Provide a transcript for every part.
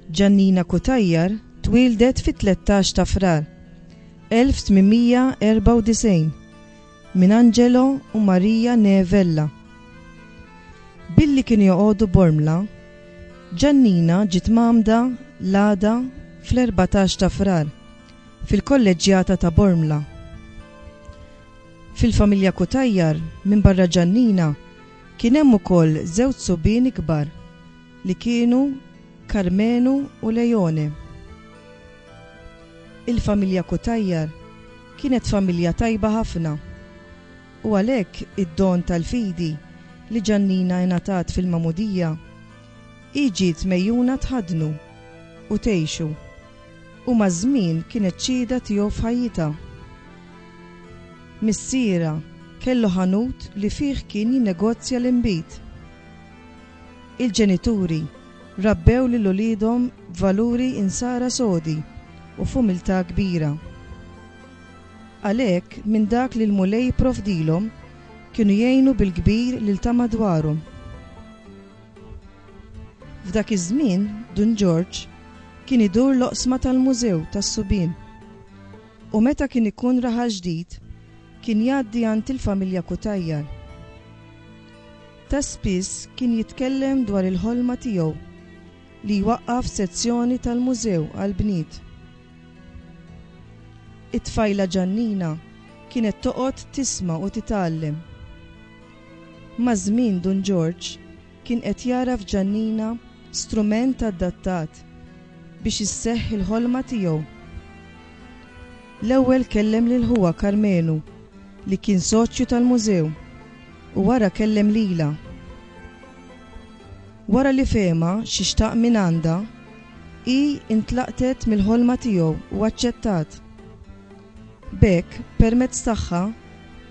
Ġannina Cutajar twieldet fit-13 ta' Frar 1894 minn Angelo u Maria Neevella. Billi kienu joqogħdu Bormla, Ġannina ġiet mgħammda l-għada fl-14 ta' Frar fil-kolleġġjata ta' Bormla. Fil-familja Cutajar, minbarra Ġannina, kien hemm ukoll żewġ subien ikbar li kienu Karmenu u Leone. Il-familja Cutajar kienet familja tajba ħafna u għalhekk id-don tal-fidi li Ġannina ingħatat fil-Magħmudija, hi ġiet megħjuna tħaddnu u tgħixu. U maż-żmien kienet xhieda tiegħu f'ħajjitha. Missierha kellu ħanut li fih kien jinnegozja l-inbid. Il-ġenituri rabbew lil uliedhom b'valuri Insara sodi u f'umiltà kbira. Għalhekk, minn dak li l-Mulej jipprovdilhom, kienu jgħinu bil-kbir lil ta' madwarhom. F'dak iż-żmien, Dun Ġorġ kien idur l-oqsma tal-Mużew tas-Subien u meta kien ikun Raħal Ġdid kien jgħaddi għand il-familja Cutajar. Ta' spiss kien jitkellem dwar il-ħolma tiegħu li jwaqqaf sezzjoni tal-Mużew għall-bniet. It-tfajla Ġannina kienet toqgħod tisma' u titgħallem. Maż-żmien Dun Ġorġ kien qed jara f'Ġannina strument adattat biex isseħħ il-ħolma tiegħu. L-ewwel kellem lil ħuha Karmenu li kien soċju tal-Mużew u wara kellem lilha. Wara li fehimha xi xtaq mingħandha, hi intlaqtet mill-ħolma tiegħu u aċċettat. B'hekk, permezz tagħha,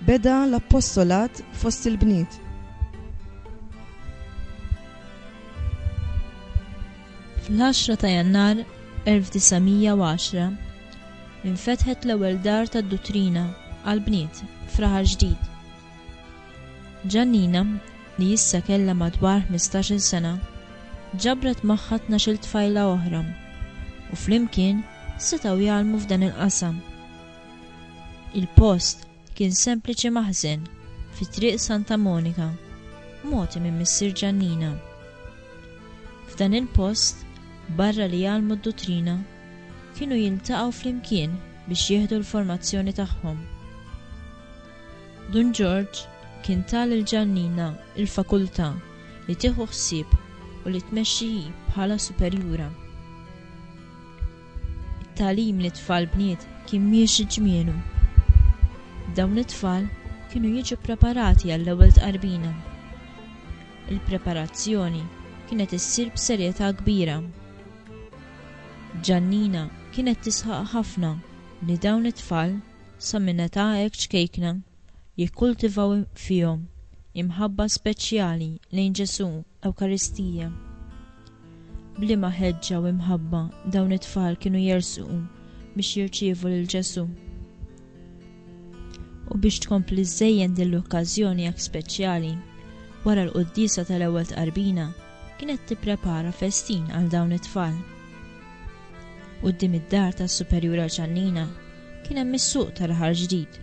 beda l-appostolat fost il-bniet. Fl-10 ta' Jannar 1910, infetħet l-ewwel dar tad-duttrina għall-bniet f'Raħal Ġdid. Giannina, li issa kellha madwar ħmistax-il sena, ġabret magħha tnax-il tfajla oħra u flimkien setgħu jgħallmu f'dan il-qasam. Il-post kien sempliċi maħżen fi Triq Santa Monika, mogħti minn missier Giannina. F'dan il-post, barra li jgħallmu d-duttrina, kienu jiltaqgħu flimkien biex jieħdu l-formazzjoni tagħhom. Dun Ġorġ kien ta lil Ġannina il-fakultà li tieħu ħsieb u li tmexxi hi bħala superjura. It-tagħlim lit-tfal bniet kien miexi ġmielu. Dawn it-tfal kienu jiġu ppreparati għall-ewwel tqarbina. Il-preparazzjoni kienet issir b'serjetà kbira. Ġannina kienet tisħaq ħafna li dawn it-tfal Sa minn età hekk ċkejkna jikkultivaw fihom imħabba speċjali lejn Ġesù, Ewkaristija. B'liema ħeġġa u imħabba dawn it-tfal kienu jersqu biex jirċievu lil Ġesù. U biex tkompli żżejjen din l-okkażjoni hekk speċjali, wara l-quddiesa tal-ewwel tqarbina kienet tipprepara festin għal dawn it-tfal. Quddiem id-dar tas-Superjura Ċannina kien hemm is-suq tal-Aħar Ġdid.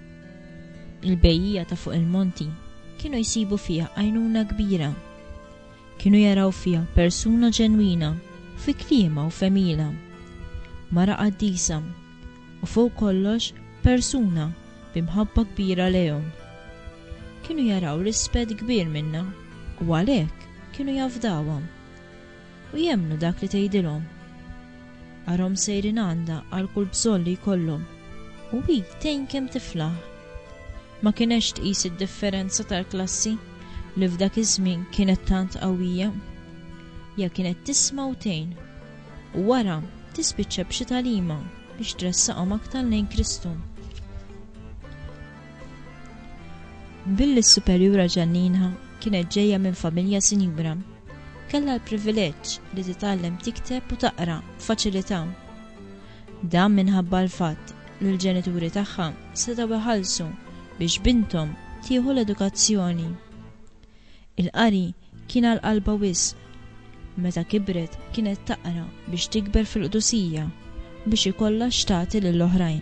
Il-bejjiegħa ta' fuq il-monti kienu jsibu fiha għajnuna kbira. Kienu jaraw fiha persuna ġenwina fi kliemha u f'għemilha. Mara qaddisa u fuq kollox persuna bi mħabba kbira lejhom. Kienu jaraw rispett kbir minnha u għalhekk kienu jafdawha. u jemmnu dak li tgħidilhom. Arahom sejrin għandha għal kull bżonn li jkollhom u hi tgħin kemm tiflaħ. Ma kinetx tqis id-differenza tal-klassi li f'dak iż-żmien kienet tant qawwija. Hija kienet tisma' u tgħin u wara tispiċċa b'xi tagħlima biex tressaqhom aktar lejn Kristu. Billi s-superjura Ġanninha kienet ġejja minn familja sinjura, kellha l-privileġġ li titgħallem tikteb u taqra b'faċilità. Dan minħabba l-fatt li l-ġenituri tagħha setgħu jħallsu biex binthom tieħu l-edukazzjoni. Il-qari kien għal qalbha wisq. Meta kibret kienet taqra biex tikber fil-qdusija u biex ikollha x'tagħti lill-oħrajn.